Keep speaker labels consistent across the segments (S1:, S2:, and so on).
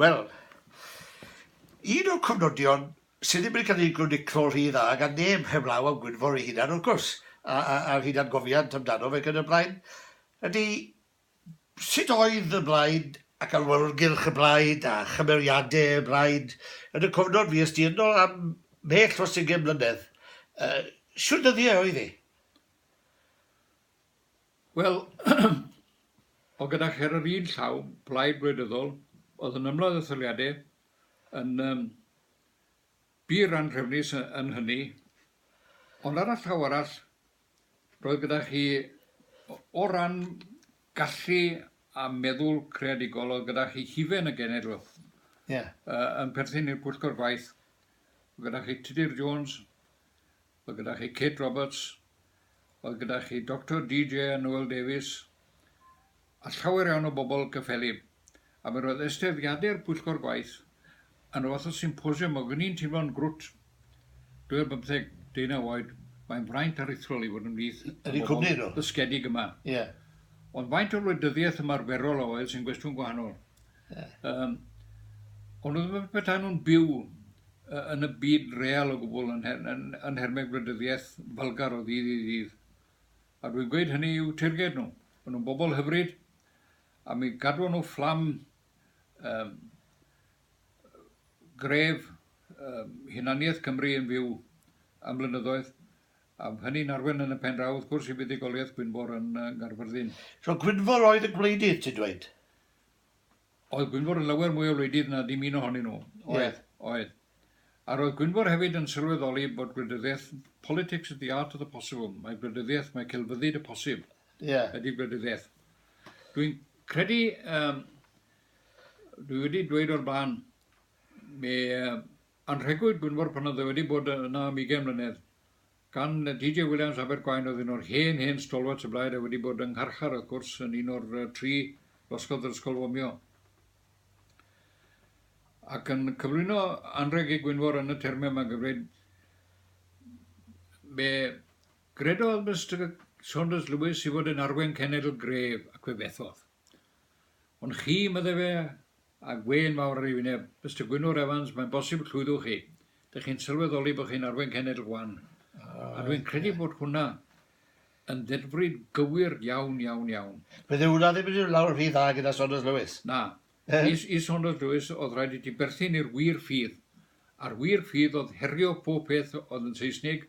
S1: Wel, un o'r cofnodion sydd ddim wedi cael ei groniclo'n rhy dda gan neb heblaw am Gwynfor ei hunan, wrth gwrs, a'r hunangofiant amdanof ac yn y blaen, ydy sut oedd y blaid ac awyrgylch y blaid a chymeriadau y blaid yn y cofnod fues di ynddo am mhell dros ugain mlynedd. Shwt ddyddiau oedd e?
S2: Wel, o gyda chi ar yr un llaw, plaid gwleidyddol, oedd yn ymladd etholiadau yn um, bur anrhefnus yn hynny, ond ar y llaw arall, roedd gyda chi o ran gallu a meddwl creadigol oedd gyda chi hufen y genedl yeah. uh, yn perthyn i'r pwyllgor gwaith gyda chi Tudur Jones Mae gyda chi Kate Roberts, mae gyda chi Doctor DJ a Noel Davies, a llawer iawn o bobl cyffelyb. A mi roedd eisteddfodiadau'r pwyllgor gwaith yn rhyw fath o symposiwm, ac o'n i'n teimlo'n grwt. Dwi ar bymtheg, deunaw oed, mae'n fraint aruthrol i fod ymhlith y bobl dysgedig yma. Ond faint o wleidyddiaeth ymarferol a oedd sy'n gwestiwn gwahanol. Yym, ond oedd yn petai nhw'n byw yn y byd real o gwbl yn, yn, yn, yn nhermau gwleidyddiaeth falgar o ddydd i ddydd. A dwi'n gweud hynny i'w teirged nhw. Maen nhw'n bobl hyfryd, a mi gadw nhw fflam um, gref um, hunaniaeth Cymru yn fyw am blynyddoedd, a hynny'n arwen yn y pen draw, wrth gwrs, i fuddugoliaeth Gwynfor yn uh, Garfyrddin. So Gwynfor
S1: oedd y gwleidydd, ti'n dweud?
S2: Oedd Gwynfor yn lawer mwy o wleidydd na dim un ohonyn nhw. Oedd, oedd. A roedd Gwynfor hefyd yn sylweddoli bod gwleidyddiaeth, politics is the art of the possible, mae gwleidyddiaeth, mae celfyddyd y posib ydy gwleidyddiaeth. Dwi'n credu, dwi wedi dweud o'r blaen, mi anrhegwyd Gwynfor pan oedd e wedi bod yna am ugain mlynedd, Gan DJ Williams Abergwaun oedd un o'r hen, hen stalwarts y blaid a wedi bod yng ngharchar, wrth gwrs, yn un o'r tri losgodd yr Ysgol Fomio. Ac yn cyflwyno anrheg ei Gwynfor yn y termau yma, gyfreid fe gredodd Mister Saunders Lewis i fod yn arwen cenedl gref, ac fe fethodd. Ond chi, medde fe, a gwên fawr ar ei wyneb, Mister Gwynfor Evans, mae'n bosib llwyddwch chi. Dych chi'n sylweddoli bod chi'n arwen cenedl gwan. A dwi'n credu bod hwnna yn ddedfryd gywir iawn, iawn, iawn. Bydd hwnna
S1: ddim yn mynd lawr rhy dda gyda Saunders Lewis. Na.
S2: I Saunders Lewis oedd rhaid i ti berthyn i'r wir ffydd, a'r wir ffydd oedd herio pob peth oedd yn Seisnig,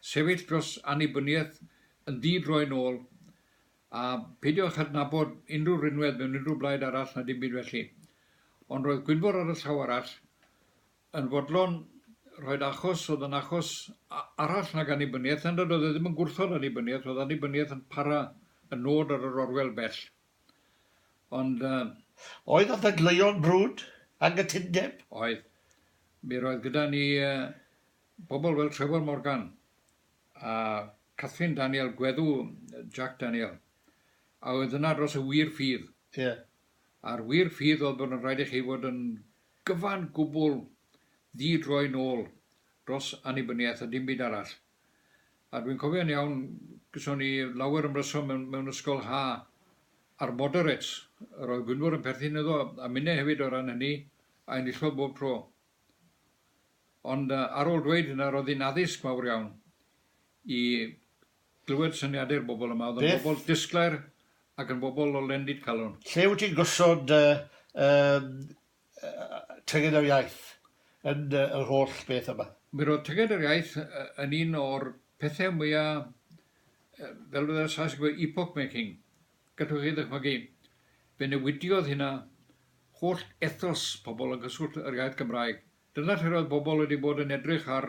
S2: sefyll dros annibyniaeth yn ddi-droi'n ôl, A pheidiwch â adnabod unrhyw rinwedd mewn unrhyw blaid arall na dim byd felly. Ond roedd Gwynfor ar y llaw arall yn fodlon rhoid achos oedd yn achos arall nag annibyniaeth, na nad oedd e ddim yn gwrthod annibyniaeth, oedd annibyniaeth yn para y nod ar yr orwel bell. Ond... Uh,
S1: oedd y ddadleuon brwd, anghytundeb? Oedd.
S2: Mi roedd gyda ni uh, bobl fel Trevor Morgan, a Catherine Daniel, gweddw Jac Daniel, a oedd yna dros y wir ffydd. Ie. A'r wir ffydd oedd bod yn rhaid i chi fod yn gyfan gwbl ddi-droi nôl dros annibyniaeth a dim byd arall. A dwi'n cofio'n iawn, gyson ni lawer ymryson mewn, mewn ysgol ha a'r moderates, yr oedd Gwynfor yn perthyn iddo, a minne hefyd o ran hynny, a enillodd bob tro. Ond ar ôl dweud hynna, roedd hi'n addysg mawr iawn i glywed syniadau'r bobl yma. Oedd yn bobl disglair ac yn bobl o lendid calon. Lle wyt ti'n gosod dy
S1: Tyged yr Iaith yn yr holl beth yma? Mi roedd Tyged yr
S2: Iaith yn un o'r pethau mwya', fel fyddai'r Saes yn gweud, epoch making. Gallwch chi ddychmygu, fe newidiodd hynna holl ethos pobl yng nghyswllt yr iaith Gymraeg. Dyna lle roedd pobl wedi bod yn edrych ar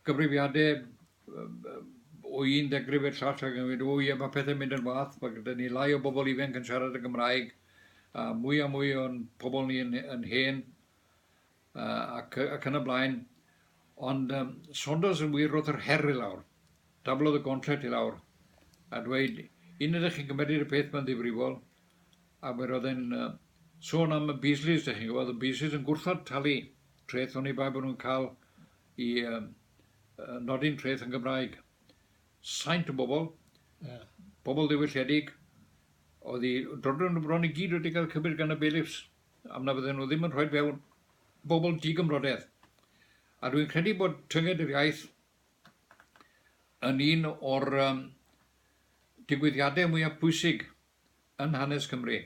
S2: gyfrifiadau o un degrif i'r llall ac yn gweud, o ie, mae pethau'n mynd yn wath, mae gyda ni lai o bobl ifanc yn siarad y Gymraeg, a mwy a mwy o'n pobl ni yn, yn hen, ac, ac yn y blaen. Ond um, Saunders yn wir roedd yr her i lawr, dablodd y gontret i lawr, a dweud, un ydych chi'n cymeriad y peth mae'n ddifrifol, Ac mi roedd e'n sôn am y Beasleys, dych chi'n gwybod, y Beasleys yn gwrthod talu treth oni bai bod nhw'n cael i um, nodi'n treth yn Gymraeg. Saint o bobl, yeah. bobl ddiwylliedig, oedd i drodron nhw bron i gyd wedi cael cymryd gan y bailiffs, am na fydden nhw ddim yn rhoi fewn bobl digymrodedd. A dwi'n credu bod tynged yr iaith yn un o'r um, digwyddiadau mwyaf pwysig yn hanes Cymru,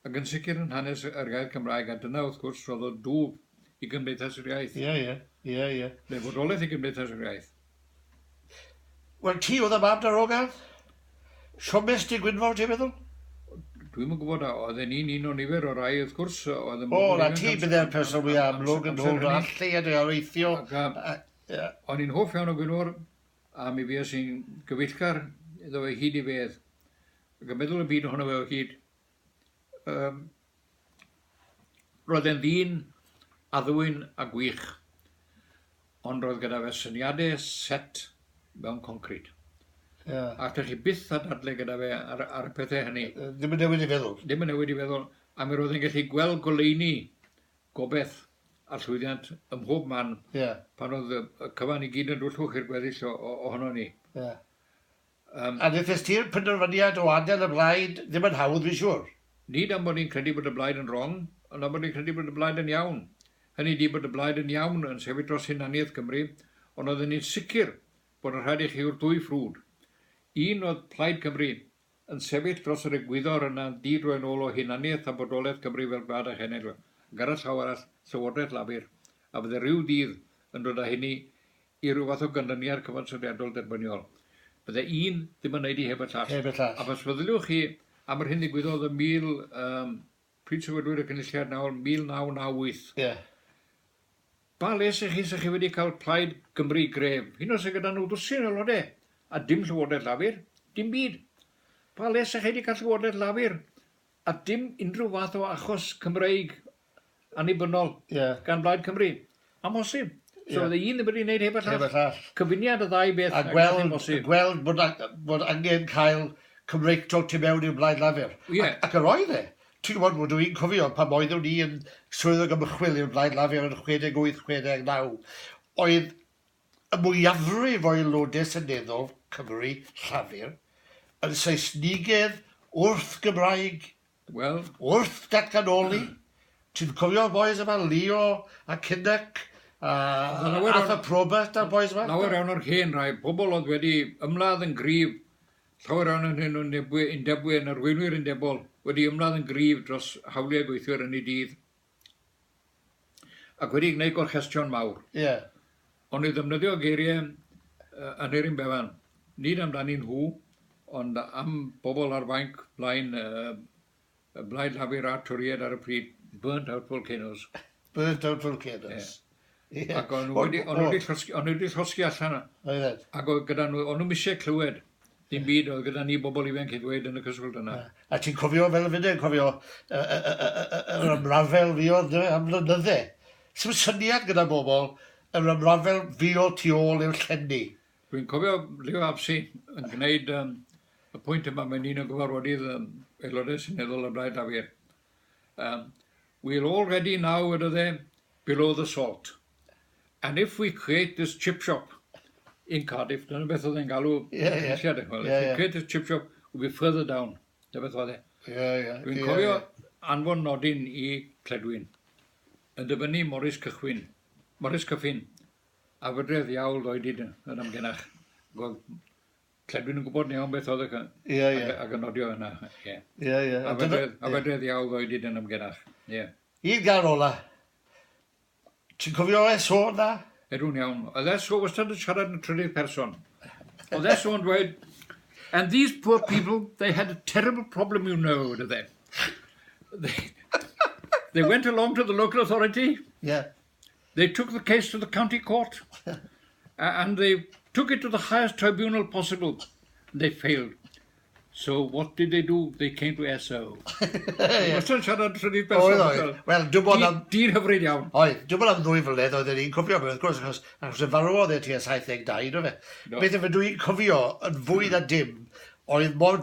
S2: ac yn sicr yn hanes yr iaith Gymraeg, a dyna wrth gwrs roddodd dwf i Gymdeithas yr Iaith. Ie, ie,
S1: ie, ie. Neu fodolaeth i
S2: Gymdeithas yr Iaith.
S1: Wel, ti oedd y mam darogan? Siomes Dy Gwynfor, ti'n meddwl? Dwi'm yn
S2: gwybod, oedden ni'n un o nifer o rai, wrth gwrs, oedd yn bobl ifanc... O, na ti
S1: bydde'r person fwy amlwg yn ôl dro all lleiad o areithio.
S2: O'n i'n hoff iawn o Gwynfor, a mi fues i'n gyfeillgar iddo fe hyd i fedd. Ac yn meddwl y byd ohono fe o hyd. Um, roedd e'n ddyn addwyn a gwych, ond roedd gyda fe syniadau set mewn concrid. Yeah. Ac ydych chi byth a dadle gyda fe ar, ar y pethau hynny. Ddim yn newid i feddwl.
S1: Ddim yn newid i feddwl.
S2: A mi roedd e'n gallu gweld goleini gobeth a llwyddiant ym mhob man yeah. pan oedd y cyfan i gyd yn dwllwch i'r gweddill ohono ni. Yeah.
S1: Yym. A wnes ti'r penderfyniad o adael y blaid ddim yn hawdd fi'n siŵr. Nid am bod ni'n credu
S2: bod y blaid yn wrong, ond am bod ni'n credu bod y blaid yn iawn. Hynny ydi bod y blaid yn iawn yn sefyll dros hunaniaeth Cymru, ond oedden ni'n sicr bod yn rhaid i chi yw'r dwy ffrwd. Un oedd Plaid Cymru yn sefyll dros yr egwyddor yna'n di-droi'n ôl o hunaniaeth a bodolaeth Cymru fel gwlad a chenedl, ac ar y llaw arall Llywodraeth Lafur, a fydde rhyw ddydd yn dod â hynny i ryw fath o ganlyniad cyfansoddiadol derbyniol. Bydde un ddim yn wneud hi heb y llall. Heb y llall. Ac os feddyliwch chi am yr hyn ddigwyddodd ym mil... Yym, pryd sefydlwyd y Cynulliad nawr, 1998. Ie. Pa les i chi 'sa chi wedi cael Plaid Cymru gref, hyd yn oed sydd gyda nhw ddwsin o aelodau, a dim Llywodraeth Lafur? Dim byd. Pa les 'sa chi wedi cael Llywodraeth Lafur a dim unrhyw fath o achos Cymreig annibynnol yeah. gan Blaid Cymru. Amhosib. So yeah. un ddim wedi gwneud heb y llall. Heb y llall. Cyfuniad y ddau beth. A gweld, gweld
S1: bod, bod angen cael Cymreictol tu mewn i'r Blaid Lafur. Yeah. Ac, ac yr oedd e. Ti'n gwybod, fod dwi'n cofio pan oeddwn ni yn swyddog ymchwil i'r Blaid Lafur yn 68-69, oedd y mwyafrif o aelodau seneddol Cymru Llafur yn Saesnigedd wrth Gymraeg Wel, wrth datganoli, ti'n cofio'r bois yma, Leo a Kinnock a Arthur Probert a'r bois yma? Lawer iawn o'r hen rai,
S2: pobl oedd wedi ymladd yn gryf, llawer iawn ohonyn nhw'n undebwyr, yn arweinwyr undebol, wedi ymladd yn gryf dros hawliau gweithwyr yn eu dydd. Ac wedi gwneud gorchestion mawr. Ie. Ond i ddefnyddio geiriau Aneurin Bevan, nid amdanyn nhw, ond am bobl ar fainc blaen y Blaid Lafur a'r Torïaid ar y pryd, burnt out volcanoes. Burnt out
S1: volcanoes. Ie. Ie. Ac o'n
S2: nhw wedi, o'n nhw wedi llosgi, o'n nhw wedi llosgi allan. Oeddet. Ac oedd gyda nhw, o'n nhw eisiau clywed dim byd oedd gyda ni bobl ifanc i ddweud yn y cyswllt yna. A ti'n cofio fel
S1: y fydde, cofio yr ymrafel fi oedd am flynydde. Sym syniad gyda bobl yr ymrafel fi o tu ôl i'r llenni. Dwi'n cofio
S2: Leo Apsey yn gwneud um, y pwynt yma, mae'n un o gyfarfodydd um, aelodau sy'n eddol y Blaid Lafur. Um, we're already now, wedodd e, below the salt. And if we create this chip shop in Cardiff, dyna beth oedd e'n galw yeah, yeah. eisiau dechrau. Yeah, if we create this chip shop, we'll be further down. Dyna beth oedd e. Yeah, yeah. Dwi'n yeah, cofio yeah. anfon nodyn i Cledwyn. Yn dyfynnu Morris Cychwyn. Morris Cyffin. A fydredd iawl ddoedid yn amgenach. Gweld Lle dwi'n yn gwybod iawn beth oedd y... Ie, ie. Ac yn nodio yna, ie. Ie, ie. A fe dredd iawn ddweud i dyn am genach, ie. I'r gan
S1: ola. Ti'n cofio Esso na? Edw'n iawn. Oedd
S2: Esso wastad yn siarad yn trydydd person. Oedd Esso yn dweud, and these poor people, they had a terrible problem, you know, oedd e. They went along to the local authority. Yeah. they took the case to the county court and they took it to the highest tribunal possible. They failed. So what did they do? They came to SO. Wastad siarad rhywbeth person. Oedd, oedd. Wel, dwi'n bod am...
S1: Dyn hyfryd iawn. Oedd,
S2: dwi'n bod am ddwy
S1: flynedd oedd yn un cofio fe, wrth gwrs, achos, achos y farw oedd e ti a 72, do fe? No. Beth efe dwi'n cofio yn fwy na dim oedd mor,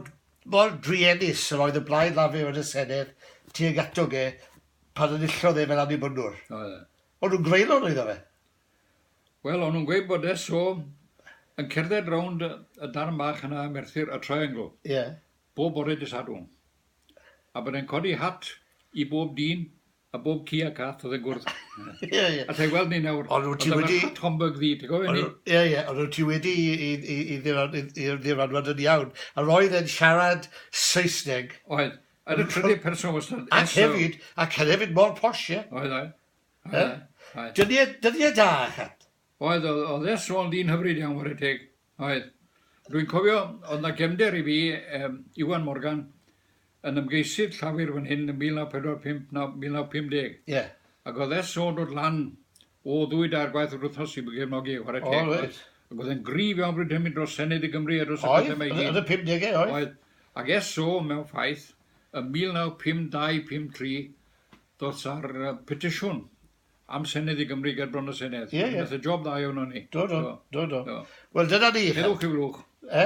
S1: mor druenus yr oedd y blaid lafu yn y Senedd tuag atog e pan enillodd e fel Annibynwr. O ie. O'n nhw'n greulon oedd o fe? Wel,
S2: o'n nhw'n gweud bod e so yn cerdded rownd y darn bach yna ym Merthyr, y Triangle. Ie. Yeah. Bob bore dy Sadwrn. A bod e'n codi hat i bob dyn a bob ci a cath oedd yn gwrdd. Ie, ie. Yeah. A ti'n
S1: gweld ni nawr. Ond
S2: wyt ti wedi... Oedd
S1: Homburg ddi,
S2: ti'n
S1: gofio
S2: ni? Ie, ie. Ond wyt ti wedi
S1: i, i, i, i ddiranwad yn iawn. A roedd e'n siarad Saesneg. Oedd. Yn y
S2: trydydd person wastad. Ac hefyd, ac
S1: hefyd mor posh, ie? Oedd, oedd.
S2: oedd.
S1: Dyddiau,
S2: dyddiau da,
S1: chat. Oedd, oedd, oedd e
S2: sôn di'n hyfryd iawn, wari teg. Oedd. Rwy'n cofio, oedd na gefnder i fi, um, Iwan Morgan, yn ymgeisydd llafur fan hyn yn 1945 na 1950. Ie. Yeah.
S1: Ac oedd e sôn
S2: dod lan O ddwy dair gwaith yr wythnos i gefnogi chwarae teg. O reit. Ac oedd e'n gryf iawn bryd hynny dros Senedd i Gymru a dros y pethau yma i gyd. Oedd, yn y pumdegau oedd. Oedd.
S1: Ac eso
S2: mewn ffaith, yn 1952, 53, ddoth ar petisiwn am Senedd i Gymru ger bron y Senedd. Ie ie. Nath e job dda
S1: iawn o ni.
S2: Do do. Do
S1: do. Do.
S2: Wel dyna ni.
S1: Heddwch i Flwch.
S2: E?